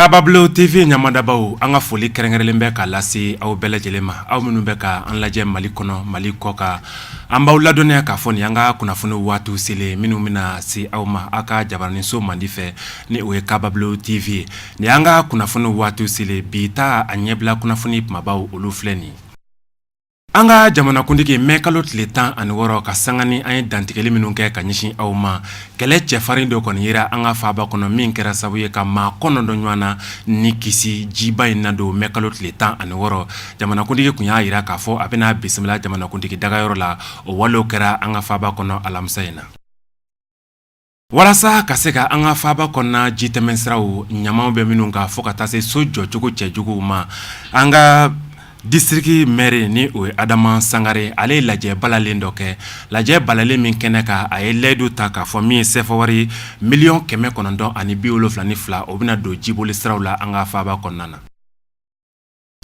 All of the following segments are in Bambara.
kabablo tv ɲamadabaw an ka foli kɛrɛnkɛrɛnlen bɛ ka lase aw bɛɛ lajɛlen ma aw minnu bɛ ka an lajɛ mali kɔnɔ mali kɔ kan an b'aw ladɔnniya k'a fɔ nin an ka kunnafoni waatiw selen minnu bɛna se aw ma aw ka jabaraninso mandi fɛ ni o ye kabablo tv ye Nin an ka kunnafoni waatiw selen bi ta a ɲɛbila kunnafoni kumabaw olu filɛ nin an ka jamanakuntigi mɛ kalo tile tan ani wɔɔrɔ ka sanga ni an ye dantigɛli minnu kɛ ka ɲɛsin aw ma kɛlɛ cɛfarin dɔ kɔni yira an ka faaba kɔnɔ min kɛra sababu ye ka maa kɔnɔntɔn ɲɔgɔn na ni kisi jiba in na don mɛ kalo tile tan ani wɔɔrɔ jamanakuntigi kun y'a yira k'a fɔ a bɛna bisimila jamanakuntigi dagayɔrɔ la o walew kɛra an ka faaba kɔnɔ alamisa in na Walasa ka se ka an ka faaba kɔnɔna ji tɛmɛnsiraw ɲamaw bɛ minnu kan fo ka taa se so jɔcogo cɛjuguw ma an ka disiriki mɛri ni o ye adama sangare ale ye lajɛ balalen dɔ kɛ lajɛ balalen min kɛnɛ kan a ye layidu ta k'a fɔ min ye sefawari miliyɔn kɛmɛ kɔnɔntɔn ani bi wolofila ni fila o bɛna don jiboli siraw la an ka faaba kɔnɔna na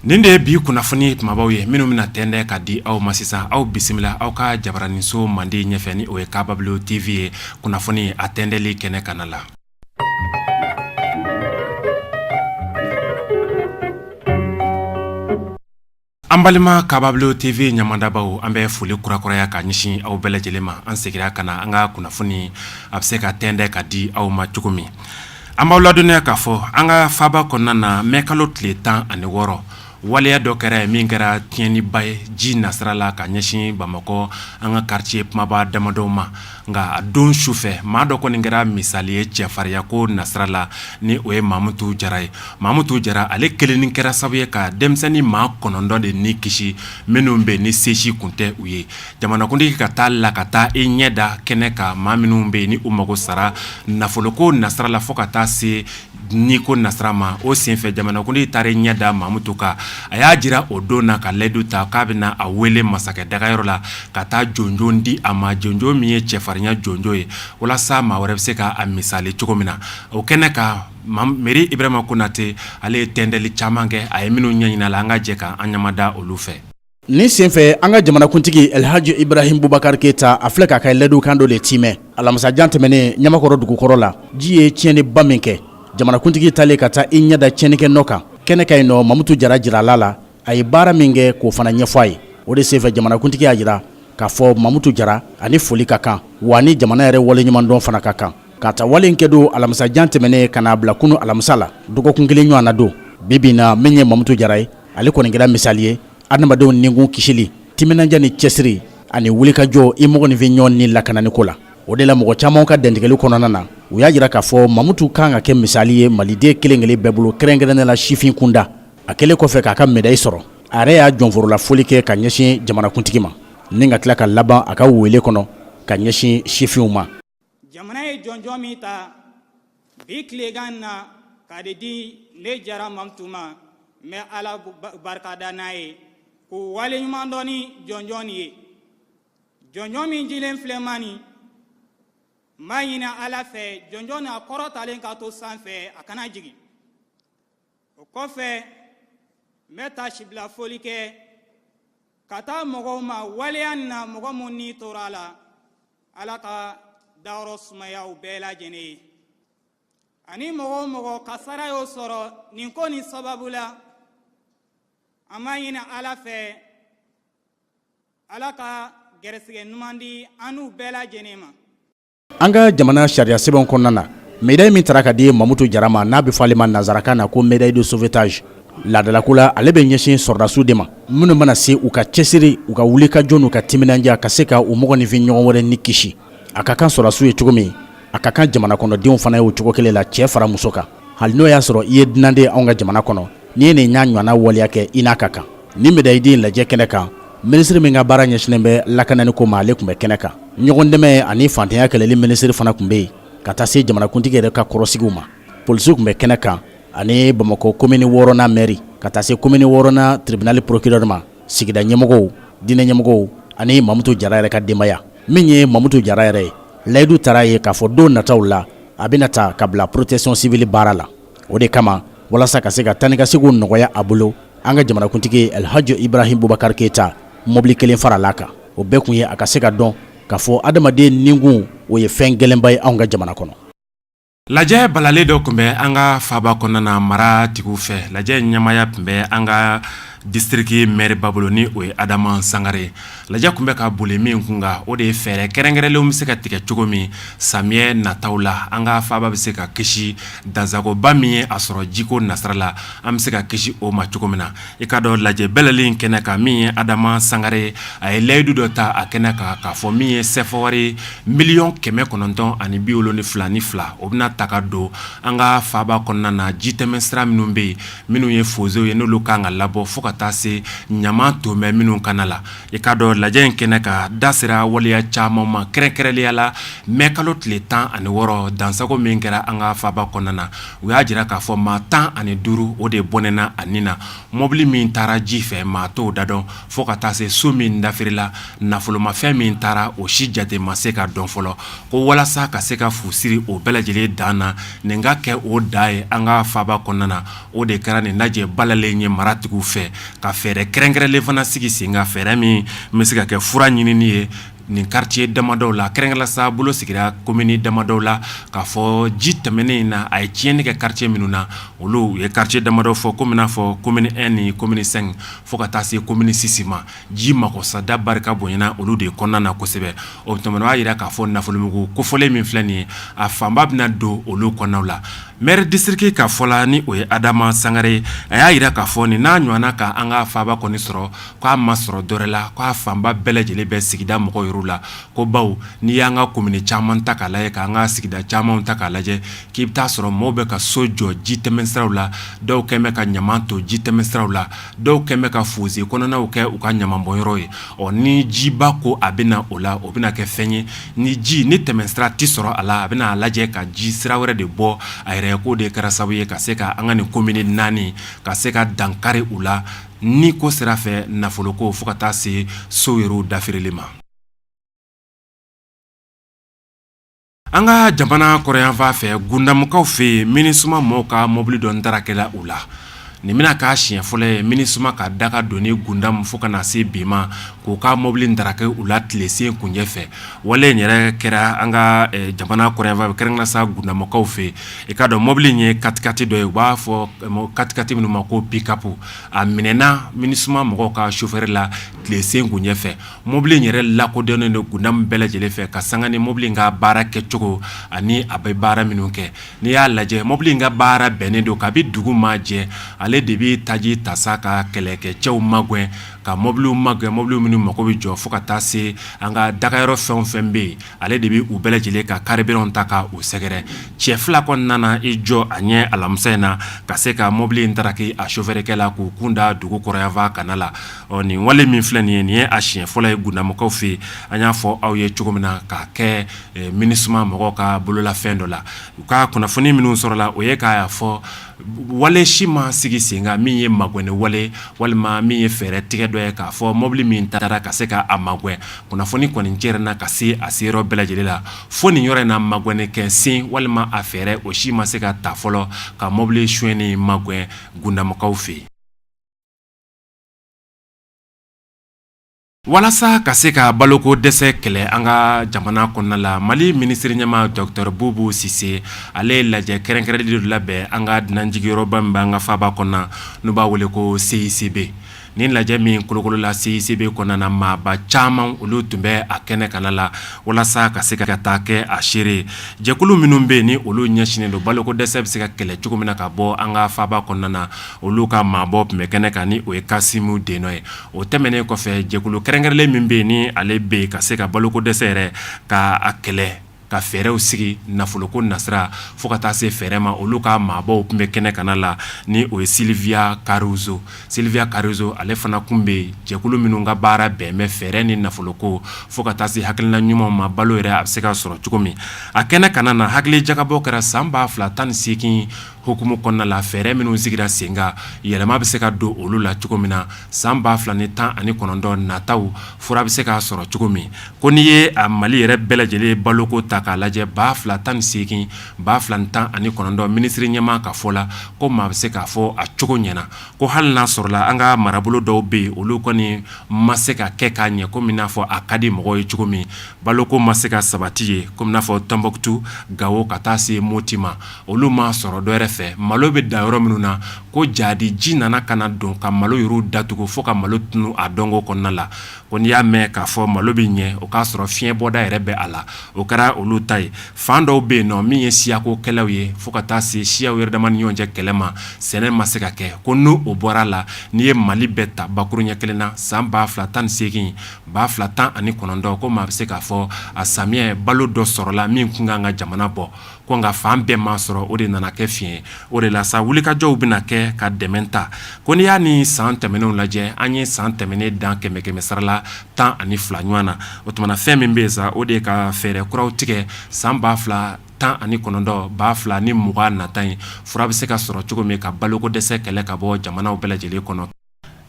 Nin de ye bi kunnafoni kumabaw ye minnu bɛna tɛndɛ ka di aw ma sisan aw bisimila aw ka jabaraninso mandi ɲɛfɛ ni o ye kabablo tv ye kunnafoni a tɛndɛli kɛnɛ kanna la an balima kabablo tv ɲamadabaw an bɛ foli kurakuraya ka ɲɛsin aw bɛɛ lajɛlen ma an segira ka na an ka kunnafoni a bɛ se ka tɛndɛ ka di aw ma cogo min An b'aw ladɔnniya k'a fɔ an ka faaba kɔnɔna na mɛ kalo tile tan ani wɔɔrɔ waleya dɔ kɛra yen min kɛra tiɲɛniba ye ji nasira la ka ɲɛsin bamakɔ an ka karitiye kumaba damadɔw ma nka a don sufɛ maa dɔ kɔni kɛra misali ye cɛfarinya ko nasira la ni o ye mamutu jara ye mamutu jara ale kelennin kɛra sababu ye ka denmisɛnnin maa kɔnɔntɔn de ni kisi minnu bɛ ni se si kun tɛ u ye jamanakuntigi ka taa la ka taa i ɲɛ da kɛnɛ kan maa minnu bɛ ni u mago sara nafoloko nasira la fo ka taa se ni ko nasira ma o senfɛ jamanakuntigi taara i ɲɛ da mamutu kan a y'a jira o don na ka layidu ta k'a bɛna a wele masakɛ dagayɔrɔ la ka taa jɔnjɔn di a ma jɔnjɔn min ye cɛfarinya jɔnjɔn ye walasa maa wɛrɛ bɛ se k'a misali cogo min na o kɛnɛ kan mɛri ibrahima konate ale ye tɛndɛli caman kɛ a ye minnu ɲɛɲini la an ka jɛ k'an ɲamada olu fɛ Nin senfɛ an ka jamanakuntigi elhaji ibrahim bubakar keyita a filɛ k'a ka layidu kan dɔ de tiimɛ alamisajan tɛmɛnen ɲamakɔrɔ dugukɔrɔ la ji ye tiɲɛniba min kɛ jamanakuntigi taalen ka taa i ɲɛda tiɲɛni kɛ nɔ kan kɛnɛ kan yen nɔ mamutu jara jirala a la a ye baara min kɛ k'o fana ɲɛfɔ a ye o de senfɛ jamanakuntigi y'a jira k'a fɔ mamutu jara ani foli ka kan wa ni jamana yɛrɛ waleɲumandɔn fana ka kan k'a ta wale kɛ don alamisajan tɛmɛnen ka n'a bila kunun alamisa la dɔgɔkun kelen ɲɔgɔn na don bibi na min ye mamutu jara ye ale kɔni kɛra misali ye adamadenw nikun kisili timinanja ni cɛsiri ani wulikajɔ i mɔgɔninfin ɲɔgɔn ni lakanani ko la o de la mɔgɔ caman ka dantigɛli kɔnɔna na u y'a jira k'a fɔ mamutu kan ka kɛ misali ye maliden kelenkelen bɛɛ bolo kɛrɛnkɛrɛnnen la sifin kunda a kɛlen kɔfɛ k'a ka medayi sɔrɔ a yɛrɛ y'a jɔnforola foli kɛ ka ɲɛsin jamanakuntigi ma ni ka tila ka laban a ka wele kɔnɔ ka ɲɛsin sifinw ma jamana ye jɔnjɔn min ta bi tilegan na k'a de di ne jara mamutu ma n bɛ ala barikada n'a ye k'u waleɲuman dɔn ni jɔnjɔn ye jɔnjɔn min dilen filɛ n ma nin n b'a ɲini ala fɛ jɔnjɔn nin a kɔrɔtalen ka to sanfɛ a kana jigin o kɔfɛ n bɛ taasibila foli kɛ ka taa mɔgɔw ma waleya in na mɔgɔ minnu ni tora a la ala ka dayɔrɔ sumaya u bɛɛ lajɛlen ye ani mɔgɔ o mɔgɔ kasara y'o sɔrɔ nin ko nin sababu la an b'a ɲini ala fɛ ala ka gɛrɛsɛgɛ ɲuman di an n'u bɛɛ lajɛlen ma An ka jamana sariya sɛbɛnw kɔnɔna na, medaille min tara ka di Mamutu Jara ma, n'a bɛ fɔ ale ma nanzarakan na ko medaille de sauvetage laadalako la, ale bɛ ɲɛsin sɔrɔdasiw de ma, minnu mana se u ka cɛsiri, u ka wulikajɔ n'u ka timinandiya ka se ka u mɔgɔninfin ɲɔgɔn wɛrɛ ni kisi. A ka kan sɔrɔdasiw ye cogo min, a ka kan jamanakɔnɔdenw fana ye o cogo kelen la, cɛ fara muso kan. hali n'o y'a sɔrɔ i ye dunanden anw ka jamana kɔnɔ n'i ye nin y'a ɲɔgɔnna waleya kɛ i n'a ka kan nin medayi di lajɛ kɛnɛ kan minisiri min ka baara ɲɛsinnen bɛ lakanani ko ma ale tun bɛ kɛnɛ kan ɲɔgɔn dɛmɛ ani fantanya kɛlɛli minisiri fana tun bɛ yen ka taa se jamanakuntigi yɛrɛ ka kɔrɔsigiw ma polisiw tun bɛ kɛnɛ kan ani bamakɔ komini wɔɔrɔnan mɛri ka taa se komini wɔɔrɔnan tribinali porokirɛri ma sigida ɲɛmɔgɔw diinɛ ɲɛmɔgɔw ani mamutu jara yɛrɛ ka denbaya min ye mamutu jara yɛrɛ ye layidu tara ye k'a fɔ don nataw la a bɛna ta ka bila protection civile baara la o de kama walasa ka se ka taa ni ka seginw nɔgɔya a bolo an ka jamanakuntigi alihaji ibrahim bubakari keyita mobili kelen farala kan o bɛɛ kun ye a ka se ka dɔn k'a fɔ adamaden nikun o ye fɛn gɛlɛnba ye anw ka jamana kɔnɔ lajɛ balalen dɔ tun bɛ an ka faba kɔnɔna na maratigiw fɛ lajɛ ɲɛmaaya tun bɛ an ka Distriki mɛriba bolo ni o ye adama sangare lajɛ tun bɛ ka boli min kun kan o de ye fɛɛrɛ kɛrɛnkɛrɛnlen bɛ se ka tigɛ cogo min samiyɛ nata la an ka faba bɛ se ka kisi dansagoba min ye a sɔrɔ jiko nasira la an bɛ se ka kisi o ma cogo min na i k'a dɔn lajɛ balalen in kɛnɛ kan min ye adama sangare a ye layidu dɔ ta a kɛnɛ kan k'a fɔ min ye sefawari miliyɔn kɛmɛ kɔnɔntɔn ani bi wolonfila ni fila o bɛna ta ka don an ka faba kɔnɔna na jitɛmɛsira minnu bɛ yen minnu ye fozew ye n'olu kan ka labɔ fo ka taa se ɲama ton bɛ minnu kana la i k'a dɔn lajɛ in kɛnɛ kan da sera waleya caman ma kɛrɛnkɛrɛnliya la mɛ kalo tile tan ani wɔɔrɔ dansago min kɛra an ka faaba kɔnɔna na u y'a jira k'a fɔ maa tan ani duuru o de bɔnɛna a ni na mɔbili min taara ji fɛ maa t'o da dɔn fo ka taa se so min dafirila nafolomafɛn min taara o si jate ma se ka dɔn fɔlɔ ko walasa ka se ka fu siri o bɛɛ lajɛlen dan na nin ka kɛ o dan ye an ka faaba kɔnɔna na o de kɛra nin lajɛ balalen ye maratigiw fɛ ka fɛɛrɛ kɛrɛnkɛrɛnlen fana sigi sen kan fɛɛrɛ min bɛ se ka kɛ fura ɲinini ye nin kariti damadɔw la kɛrɛnkɛrɛnla sa bolo sigira komini damadɔw la k'a fɔ ji tɛmɛnen in na a ye tiɲɛni kɛ kariti minnu na olu ye kariti damadɔ fɔ komi n'a fɔ komini ɛn ni komini sɛnki fo ka taa se komini sisi ma ji magosa da barika bonyana olu de kɔnɔna na kosɛbɛ o tuma b'a jira k'a fɔ nafolomugu kofɔlen min filɛ nin ye a fanba bɛna don olu kɔnɔnaw la mɛri disitiriki ka fɔ la ni o ye Adama Sangare ye a y'a jira k'a fɔ nin n'a ɲɔgɔnna ka an ka faaba kɔni sɔrɔ k'a ma sɔrɔ dɔwɛrɛ la k'a fanba bɛɛ lajɛlen bɛ sigida mɔgɔw yɛrɛ la ko bawo n'i y'an ka komini caman ta k'a lajɛ k'an ka sigida caman ta k'a lajɛ k'i bɛ taa a sɔrɔ maaw bɛ ka so jɔ ji tɛmɛnsiraw la dɔw kɛlen bɛ ka ɲama ton ji tɛmɛnsiraw la Dɔw kɛlen bɛ ka fose kɔnɔnaw kɛ u ka ɲamabɔnyɔrɔ ye ɔ ni jiba ko a bɛ na o la o bɛna kɛ fɛn ye ni ji ni tɛmɛsira tɛ sɔrɔ a la a bɛna a lajɛ ka ji sira wɛrɛ de bɔ a yɛrɛ ye k'o de kɛra sababu ye ka se ka an ka nin komini naani ka se ka dankari u la niko sira fɛ nafoloko fo ka taa se so yɛrɛw dafirili ma An ka jamana kɔrɔnyanfan fɛ Gundamukaw fɛ yen minisuma mɔgɔw ka mɔbili dɔ tarakila u la nin bɛna k'a siɲɛ fɔlɔ ye minisuma ka daga don Gundamu fo ka na se bi ma k'u ka mɔbili taraki u la tilesenkuncɛ fɛ wale in yɛrɛ kɛra an ka jamana kɔrɔnyanfan fɛ kɛrɛnkɛrɛnnenya sa Gundamukaw fɛ i k'a dɔn mɔbili in ye katikati dɔ ye u b'a fɔ katikati minnu ma ko pikapu a minɛna minisuma mɔgɔw ka sofɛri la tilesenkuncɛ Mɔbili in yɛrɛ lakodɔnnen don Gundamu bɛɛ lajɛlen fɛ ka sanga ni mɔbili in ka baara kɛcogo ani a bɛ baara minnu kɛ n'i y'a lajɛ mɔbili in ka baara bɛnnen don kabi dugu ma jɛ ale de bɛ taji ta sa ka kɛlɛkɛcɛw magɛn ka mɔbiliw magɛn mɔbili minnu mako bɛ jɔ fo ka taa se an ka dagayɔrɔ fɛn o fɛn bɛ yen ale de bɛ u bɛɛ lajɛlen ka karibiran ta ka u sɛgɛrɛ cɛ fila kɔni nana i jɔ a ɲɛ alamisa in na ka se ka mɔbili in taraki a sofɛrikɛ la k'u kun da dugu kɔrɔnyanfan kana la ɔ nin wale min filɛ nin ye nin ye a siɲɛ fɔlɔ ye Gundamukaw fɛ yen an y'a fɔ aw ye cogo min na k'a kɛ minisuma mɔgɔw ka bololafɛn dɔ la u ka kunnafoni minnu sɔrɔla o ye k'a fɔ wale si ma sigi sen kan min ye magwɛnni wale walima min ye fɛɛrɛ tigɛ dɔ ye k'a fɔ mɔbili min taara ka se k'a magwɛn kunnafoni kɔni cɛrinna ka se a se yɔrɔ bɛɛ lajɛlen la fo nin yɔrɔ in na magwɛnni kɛ sen walima a fɛɛrɛ o si ma se ka ta fɔlɔ ka mɔbili sonyɛnen magwɛn Gundamukaw fɛ yen Walasa ka se ka baloko dɛsɛ kɛlɛ an ka jamana kɔnɔna la mali minisiri ɲɛmaa dɔkitɔrɔ Bubu Sise ale ye lajɛ kɛrɛnkɛrɛnlen dɔ labɛn an ka dunanjigiyɔrɔba min b'an ka faaba kɔnɔna n'u b'a wele ko CICB nin lajɛ min kolokolola CICB kɔnɔna na maaba caman olu tun bɛ a kɛnɛ kanna la walasa ka se ka taa kɛ a seere jɛkulu minnu bɛ yen ni olu ɲɛsinnen don balo ko dɛsɛ bɛ se ka kɛlɛ cogo min na ka bɔ an ka faaba kɔnɔna na olu ka maabɔ tun bɛ kɛnɛ kan ni o ye Kasimu Denɔn ye O tɛmɛnen kɔfɛ jɛkulu kɛrɛnkɛrɛnlen min bɛ yen ni ale bɛ yen ka se ka balo ko dɛsɛ yɛrɛ ka a kɛlɛ ka fɛɛrɛw sigi nafolo ko nasira fo ka taa se fɛɛrɛ ma olu ka maabɔw tun bɛ kɛnɛ kanna la ni o ye Silvia Caruso Silvia Caruso ale fana tun bɛ yen jɛkulu minnu ka baara bɛn bɛ fɛɛrɛ ni nafolo ko fo ka taa se hakilina ɲumanw ma balo yɛrɛ a bɛ se ka sɔrɔ cogo min a kɛnɛ kanna na hakili jagabɔ kɛra san ba fila tan ni seegin hukumu kɔnɔna la fɛɛrɛ minnu sigira sen kan yɛlɛma bɛ se ka don olu la cogo min na san ba fila ni tan ani kɔnɔntɔn nataw fura bɛ se ka sɔrɔ cogo min ko n'i ye a mali yɛrɛ bɛɛ lajɛlen baloko ta k'a lajɛ ba fila tan ni seegin ba fila tan ani kɔnɔntɔn minisiri ɲɛmaa ka fɔ la ko maa bɛ se k'a fɔ a cogo ɲɛna ko hali n'a sɔrɔla an ka marabolo dɔw bɛ yen olu kɔni ma se ka kɛ ka ɲɛ kɔmi n'a fɔ a ka di mɔgɔ ye cogo min balo ko ma se ka sabati yen kɔmi n'a fɔ Tonbutu Gawo ka taa se Moti ma Olu ma sɔrɔ dɔw yɛrɛ fɛ malo bɛ da yɔrɔ minnu na ko jaati ji nana ka na don ka malo yɔrɔ datugu fo ka malo tunun a dɔnko kɔnɔna la ko n'i y'a mɛn k'a fɔ malo bɛ ɲɛ o k'a sɔrɔ fiɲɛ bɔda yɛrɛ bɛ a la o kɛra olu ta ye fan dɔw bɛ yen nɔ min ye siyako kɛlɛ ye fo ka taa se siyaw yɛrɛ dama ni ɲɔgɔn cɛ kɛlɛ ma sɛnɛ ma se ka kɛ ko n'o o bɔra a la n'i ye mali bɛɛ ta bakurun ɲɛ kelen na san ba fila tan ni seegin ba fila tan ani kɔnɔntɔn ko maa bɛ se k'a fɔ a samiyɛ balo dɔ sɔrɔla min tun ka kan ka jamana bɔ ko nka fan bɛɛ ma sɔrɔ o de nana kɛ fiɲɛ o de la sa wulikajɔw bɛna kɛ ka dɛmɛ ta ko n'i y'a ni san tɛmɛnenw lajɛ an ye san tɛmɛnen dan kɛmɛ kɛmɛ sarala tan ani fila ɲɔgɔn na o tuma na fɛn min bɛ yen sa o de ka fɛɛrɛ kuraw tigɛ san ba fila tan ani kɔnɔntɔn ba fila ni mugan nata in fura bɛ se ka sɔrɔ cogo min ka baloko dɛsɛ kɛlɛ ka bɔ jamanaw bɛɛ lajɛlen kɔnɔ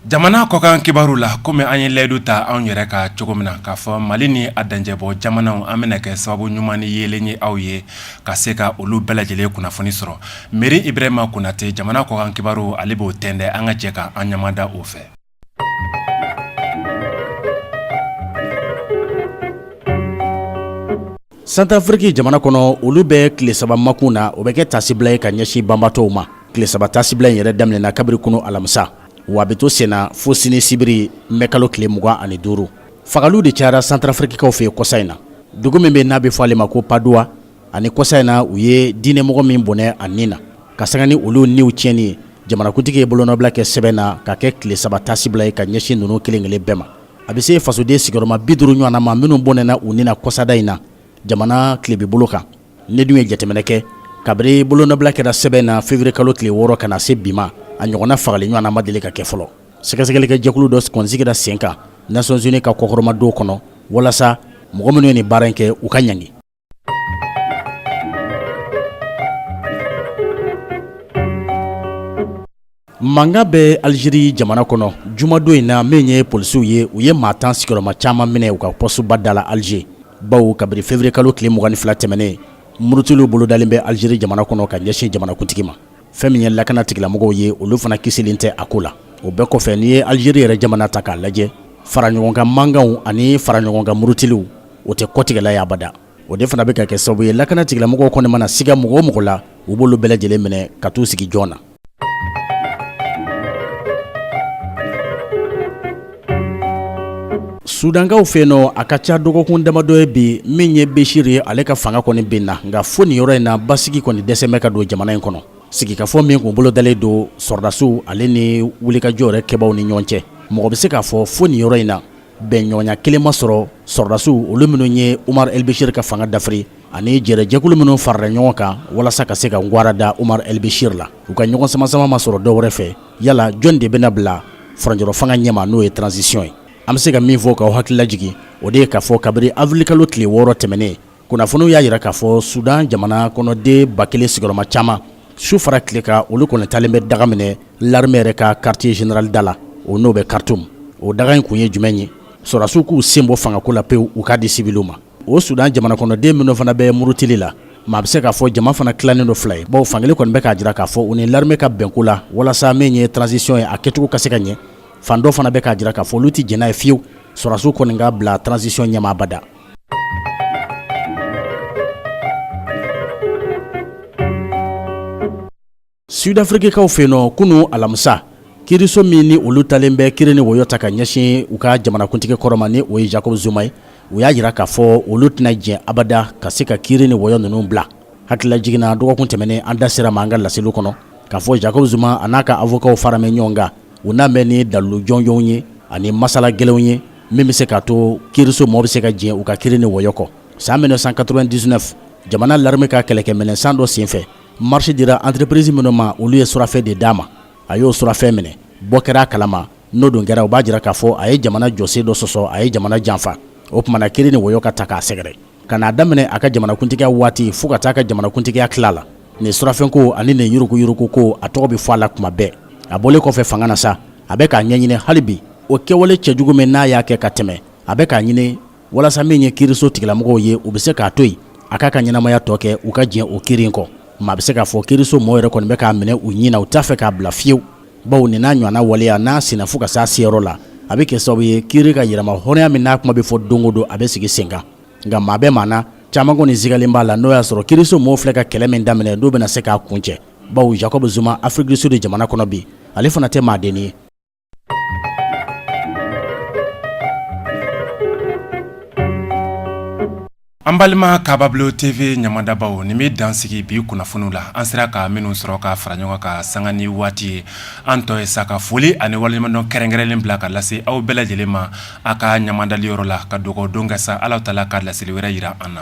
Jamana kɔkan kibaru la kɔmi an ye layidu ta anw yɛrɛ ka cogo min na k'a fɔ mali ni a danjɛbɔ jamanaw an bɛna kɛ sababu ɲuman ni yeelen ye aw ye ka se ka olu bɛɛ lajɛlen kunnafoni sɔrɔ Meri Ibrahima Konatɛ jamana kɔkan kibaru ale b'o tɛntɛn an ka jɛ k' an ɲamada o fɛ Santarafiriki jamana kɔnɔ olu bɛ tile saba makun na o bɛ kɛ taasibila ye ka ɲɛsin banbaatɔw ma tile saba tasibila in yɛrɛ daminɛna kabiri kunun alamisa wa a bɛ to senna fo sini sibiri mɛ kalo tile mugan ani duuru fagali de cayara santarafirikikaw fɛ yen kɔsa in na dugu min bɛ n'a bɛ fɔ ale ma ko paduwa ani kɔsa in na u ye diinɛmɔgɔ min bɔnɛ a ni na ka sanga ni olu niw tiɲɛni ye jamanakuntigi ye bolonɔbila kɛ sɛbɛn na ka kɛ tile saba tasibila ye ka ɲɛsin ninnu kelen kelen bɛɛ ma a bɛ se fasoden sigiyɔrɔma bi duuru ɲɔgɔnna ma minnu bɔnɛna u ni na kɔsada in na jamana tilebibolo kan n'i dun ye jateminɛ kɛ kabiri bolonɔbila kɛra sɛbɛn na fevrier kalo tile wɔɔrɔ ka na se bi ma a ɲɔgɔnna fagali ɲɔgɔnna ma deli ka kɛ fɔlɔ sɛgɛsɛgɛlikɛ jɛkulu dɔ kɔni sigira sen kan nations unies ka kɔkɔrɔmadon kɔnɔ walasa mɔgɔ minnu ye nin baara in kɛ u ka ɲangi Mankan bɛ Algerie jamana kɔnɔ jumadon in na min ye polisiw ye u ye maa tan sigiyɔrɔma caman minɛ u ka pɔsuba da la Alger bawo kabiri février kalo tile mugan ni fila tɛmɛnen murutiliw bolodalen bɛ Algerie jamana kɔnɔ ka ɲɛsin jamanakuntigi ma fɛn min ye lakana tigilamɔgɔw ye olu fana kisilen tɛ a ko la o bɛɛ kɔfɛ n'i ye Algerie yɛrɛ jamana ta k'a lajɛ faraɲɔgɔnkan mankanw ani faraɲɔgɔnkan murutiliw o tɛ kɔtigɛla ye abada o de fana bɛ ka kɛ sababu ye lakana tigilamɔgɔw kɔni mana siga mɔgɔ o mɔgɔ la u b'olu bɛɛ lajɛlen minɛ ka t'u sigi jɔn na sudankaw fɛ yen nɔ a ka ca dɔgɔkun damadɔ ye bi min ye besiri ye ale ka fanga kɔni binna nka fo nin yɔrɔ in na basigi kɔni dɛsɛ bɛ ka don jamana in kɔnɔ sigikafɔ min kun bolodalen don sɔrɔdasiw ale ni wulikajɔ yɛrɛ kɛbaw ni ɲɔgɔn cɛ mɔgɔ bɛ se k'a fɔ fo nin yɔrɔ in na bɛnɲɔgɔnya kelen ma sɔrɔ sɔrɔdasiw olu minnu ye Umaru Elbesiri ka fanga dafiri ani jɛrɛjɛkulu minnu farala ɲɔgɔn kan walasa ka se ka ngwara da Umaru Elbesiri la u ka ɲɔgɔn samasama ma sɔrɔ dɔwɛrɛ fɛ yala jɔn de bɛna bila furancɛrɔ fanga ɲɛma n'o ye transition ye an bɛ se ka min fɔ k'aw hakili lajigin o de ye k'a fɔ kabiri avril kalo tile wɔɔrɔ tɛmɛnen kunnafoniw y'a jira k'a fɔ sudan jamana kɔnɔden ba kelen sigiyɔrɔma caman su fara tile kan olu kɔni talen bɛ daga minɛ laremɛ yɛrɛ ka quartier général da la o n'o bɛ Khartoum o daga in kun ye jumɛn ye sɔrɔdasiw k'u sen bɔ fangako la pewu u k'a di siwiliw ma o sudan jamana kɔnɔden minnu fana bɛ murutili la maa bɛ se k'a fɔ jama fana tilannen don fila ye bawo fankelen kɔni bɛ k'a jira k'a fɔ u ni laremɛ ka bɛnko la walasa min ye transisiyɔn ye a kɛcogo ka se ka ɲɛ fan dɔ fana bɛ k'a jira k'a fɔ olu tɛ jɛn n'a ye fiyewu sɔrɔdasiw kɔni ka bila transisiyɔn ɲɛma abada sudafirikikaw fɛ yen nɔ kunun alamisa kiriso minnu olu talen bɛ kiri ni wɔyɔ ta ka ɲɛsin u ka jamanakuntigi kɔrɔ ma ni o ye jacob zuma ye u y'a jira k'a fɔ olu tɛna jɛn abada ka se ka kiri ni wɔyɔ ninnu bila hakililajigin na dɔgɔkun tɛmɛnen an da sera a ma an ka laseliw kɔnɔ k'a fɔ jacob zuma a n'a ka avokaw faramɛ ɲɔgɔn kan U na bɛn ni dalilu jɔnjɔnw ye ani masala gɛlɛnw ye min bɛ se k'a to kiiriso maaw bɛ se ka jɛn u ka kiri ni wɔyɔ kɔ san mil neuf cent quatre-vingt-dix-neuf jamana l'armée ka kɛlɛkɛminɛn san dɔ senfɛ marché dira entreprise minnu ma olu ye surafɛn de d'a ma a y'o surafɛn minɛ bɔ kɛra a kala ma n'o dun kɛra u b'a jira k'a fɔ a ye jamana jɔsen dɔ sɔsɔ a ye jamana janfa o tumana kiri ni wɔyɔ ka ta k'a sɛgɛrɛ Ka n'a daminɛ a ka jamanakuntigiya waati fo ka taa ka jamanakuntigiya tila la nin surafɛnko ani nin yuruguyuruguko a tɔgɔ bɛ fɔ a la tuma bɛɛ a bɔlen kɔfɛ fanga na sa a bɛ k'a ɲɛɲini hali bi o kɛwale cɛjugu min n'a y'a kɛ ka tɛmɛ a bɛ k'a ɲini walasa min ye kiiriso tigilamɔgɔw ye u bɛ se k'a to yen a k'a ka ɲɛnamaya tɔ kɛ u ka jɛn o kiri in kɔ maa bɛ se k'a fɔ kiiriso maaw yɛrɛ kɔni bɛ k'a minɛ u ɲin na u t'a fɛ k'a bila fiyewu bawo nin n'a ɲɔgɔnna waleya n'a sinna fo ka se a seyɔrɔ la a bɛ kɛ sababu ye kiri ka yɛrɛmahɔrɔnya min n'a kuma bɛ fɔ don o don a bɛ sigi sen kan nka maa bɛɛ maa caman kɔni sigalen b'a la n'o y'a sɔrɔ kiriso maaw filɛ ka kɛlɛ min daminɛ n'u bɛna se k'a kuncɛ bawo Jacob Zuma Afrique du Sud jamana kɔnɔ bi ale fana tɛ maadennin ye An balima Kabablo TV ɲamadabaw nin bɛ dansigi bi kunnafoniw la an sera ka minnu sɔrɔ ka fara ɲɔgɔn kan sanga ni waati ye an tɔ ye sa ka foli ani waleɲumandɔn kɛrɛnkɛrɛnnen bila ka lase aw bɛɛ lajɛlen ma a ka ɲamadali yɔrɔ la ka dugawu don kɛ sa Ala taala ka laseli wɛrɛ jira an na